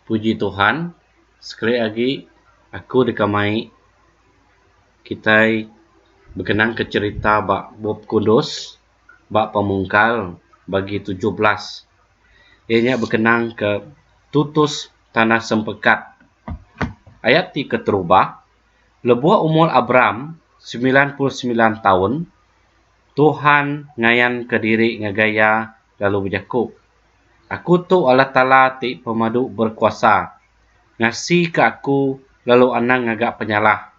Puji Tuhan, sekali agi aku deka mai kitai bekenangka cherita ba Bup Kudus ba Pemungkal bagi tujuh belas. Iya nya bekenang ke tutus tanah sempekat. Ayat ti keterubah, Lebuh umur Abram semilan puluh semilan taun, Tuhan ngayanka diri ngagai iya lalu bejaku, Aku tu Allah Taala ti Pemadu Berekuasa, ngasika aku lalu anang ngaga penyalah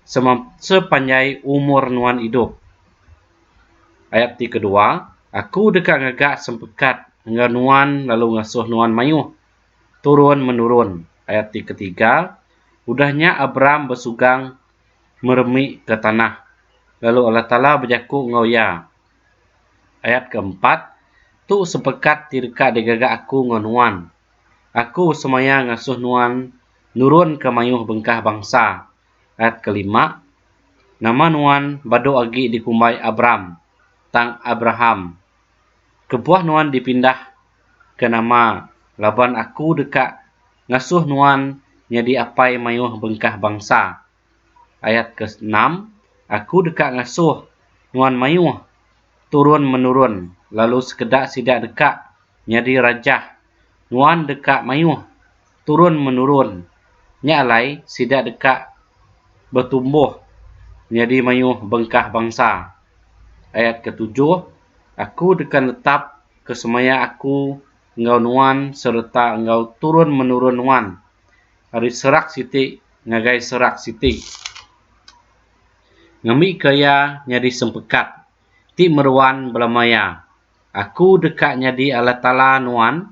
sema sepanjai umur nuan idup. Ayat ti kedua, Aku deka ngaga sempekat enggau nuan lalu ngasuh nuan mayuh turun menurun. Ayat ti ketiga, Udah nya Abram besugang meremika tanah, lalu Allah Taala bejaku enggau iya, Ayat ke empat, Tu sepekat ti deka digaga Aku enggau nuan, Aku semaya ngasuh nuan nurunka mayuh bengkah bangsa. Ayat ke lima, Nama nuan badu agi dikumbai Abram, tang Abraham. Kebuah nuan dipindahka nama laban Aku deka ngasuh nuan nyadi apai mayuh bengkah bangsa. Ayat ke enam, Aku deka ngasuh nuan mayuh turun menurun, lalu sekeda sida deka nyadi raja nuan deka mayuh turun menurun, nya alai sida deka betumbuh nyadi mayuh bengkah bangsa. Ayat ke tujuh, Aku deka netap ke semaya Aku enggau nuan sereta enggau turun menurun nuan. ari serak siti ngagai serak siti ngambika iya nyadi sempekat ti meruan belama iya. Aku deka nyadi Allah Taala nuan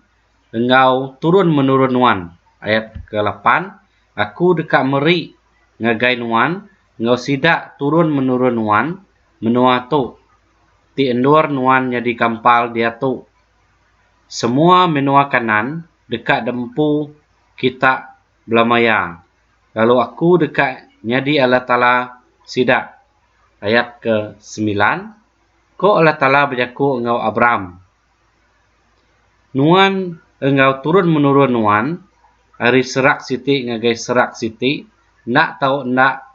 enggau turun-menurun nuan. Ayat ke lapan, Aku deka meri ngagai nuan enggau sida turun-menurun nuan menua tu ti endur nuan nyadi kampal diatu. Semua menua Kanaan deka dempu kita belama iya, lalu aku deka nyadi Allah Taala sida. Ayat ke semilan, Ko Allah Taala bejaku enggau Abram, Nuan enggau turun menurun nuan, ari serak siti ngagai serak siti, enda tau enda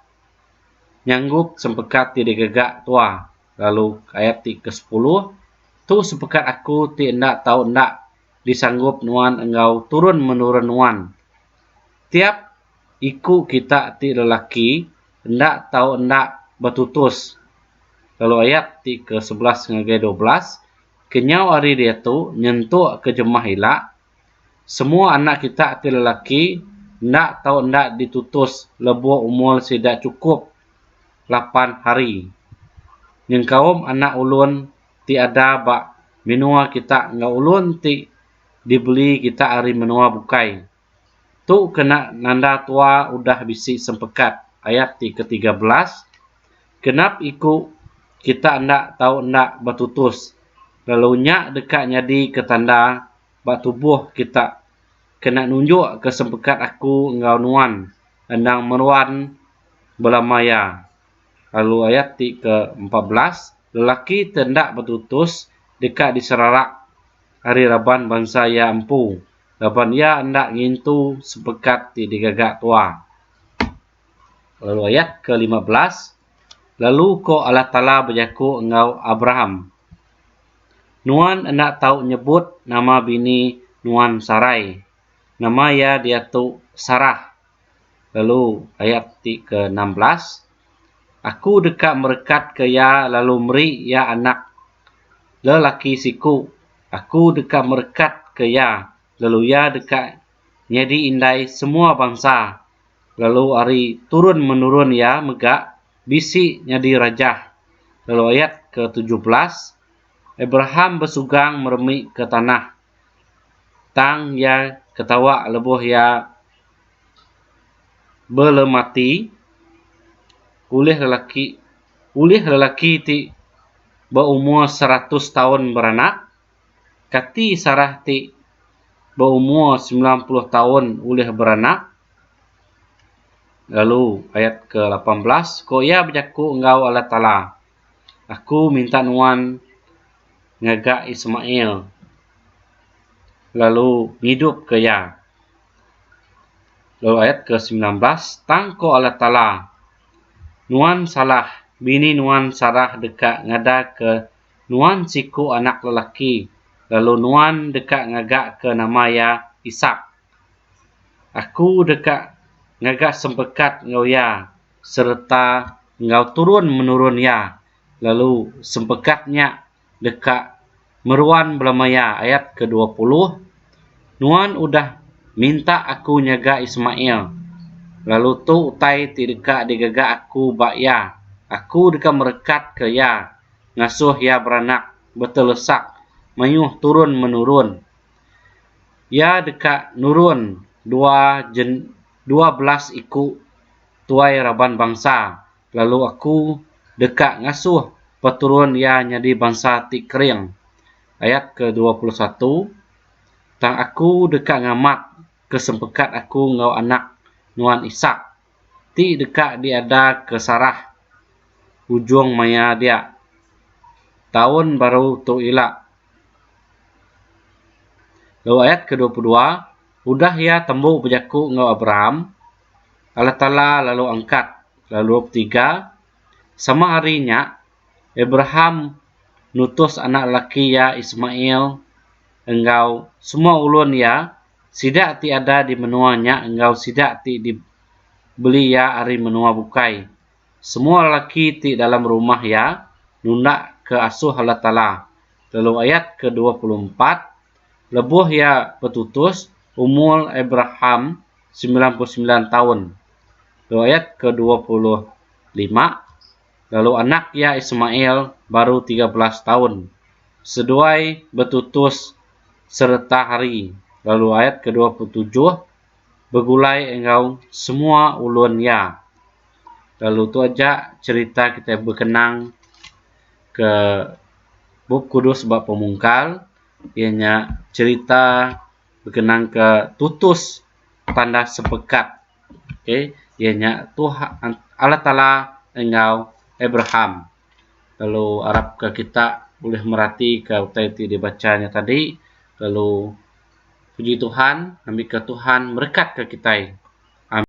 nyanggup sempekat ti digaga Tua. Lalu ayat ti ke sepuluh, Tu sempekat Aku ti enda tau enda. disanggup nuan enggau turun-menurun nuan. Tiap iku kita ti lelaki enda tau enda betutus lalu ayat ti ke sebelas ngagai dua belas kenyau hari diatu nyentuk ke jemah ila semua anak kita ti lelaki enda tau enda ditutus lebuh umur sida chukup lapan hari nyengkaum anak ulun ti ada ba menoa kita enggau ulun ti dibeli kita ari menoa bukai. Tu kena nanda tua udah bisi sempekat, ayat ti ke tiga belas, Genap iku kita enda tau enda betutus, lalu nya deka nyadi ke tanda ba tubuh kita kena nunjuk ke sempekat aku enggau nuan endang meruan bela maya. lalu ayat ti ke empat belas lelaki ti enda betutus deka diserarak ari raban bansa iya empu laban iya enda ngintu sepekat ti digaga tua lalu ayat ke lima belas lalu ko Allah Taala bejaku enggau Abraham nuan enda tau nyebut nama bini nuan Sarai nama iya diatu Sarah lalu ayat ti ke enam belas aku deka merekatka iya lalu meri iya anak lelaki siku aku deka merekatka iya lalu iya deka nyadi indai semua bansa lalu ari turun menurun iya mega bisi nyadi raja lalu ayat ke tujuh belas Abraham besugang meremika tanah Tang iya ketawa lebuh iya belemati ulih lelaki ulih lelaki ti beumur seratus taun beranak, kati Sarah ti beumur semilan puluh taun ulih beranak. Lalu ayat ke lapan belas, Ku iya bejaku enggau Allah Taala. Aku minta nuan ngaga Ismail lalu ngidupka iya. Lalu ayat ke-19, Tang ku Allah Taala, Nuan salah, bini nuan Sarah deka ngadaka nuan siku anak lelaki, lalu nuan deka ngagaka nama iya Isak. Aku deka ngaga sempekat enggau iya. sereta enggau turun menurun iya lalu sempekat nya deka meruan belama iya ayat ke dua puluh Nuan udah minta aku nyaga Ismail lalu tu utai ti deka digaga aku ba iya aku deka merekatka iya ngasuh iya beranak betelesak mayuh turun menurun iya deka nurun dua dua belas iku tuai raban bansa lalu aku deka ngasuh peturun iya nyadi bansa ti kering. Ayat ke dua puluh satu Tang aku deka ngamat ke sempekat aku enggau anak nuan Isak, ti deka diada ke Sarah ujung maya dia. Taun baru tu ila. Lalu ayat ke dua puluh dua. Udah iya tembu bejaku enggau Abraham, Allah Taala lalu angkat lalu betiga. Sama hari nya, Abraham nutus anak lelaki iya Ismail enggau semua ulun iya, sida ti ada di menua nya enggau sida ti di beli iya ari menua bukai, semua lelaki ti dalam rumah iya, nundakka asuh Allah Taala. Lalu ayat ke dua puluh empat. Lebuh iya betutus, umur Abraham semilan puluh semilan taun. Dua ayat ke dua puluh lima, Lalu anak iya Ismail baru tiga belas taun, seduai betutus sereta hari. Lalu ayat ke dua puluh tujuh, Begulai enggau semua ulun iya. Lalu tu aja cherita kitai bekenang ke Bup Kudus ba Pemungkal. iya nya cerita bekenang ke tutus tandas sepekat okay iya nya Tuhan Allah Taala enggau Abraham lalu arap ke kita ulih merati ke utai ti dibacha nya tadi lalu puji Tuhan ngambika Tuhan merekat ke kitai. Amin.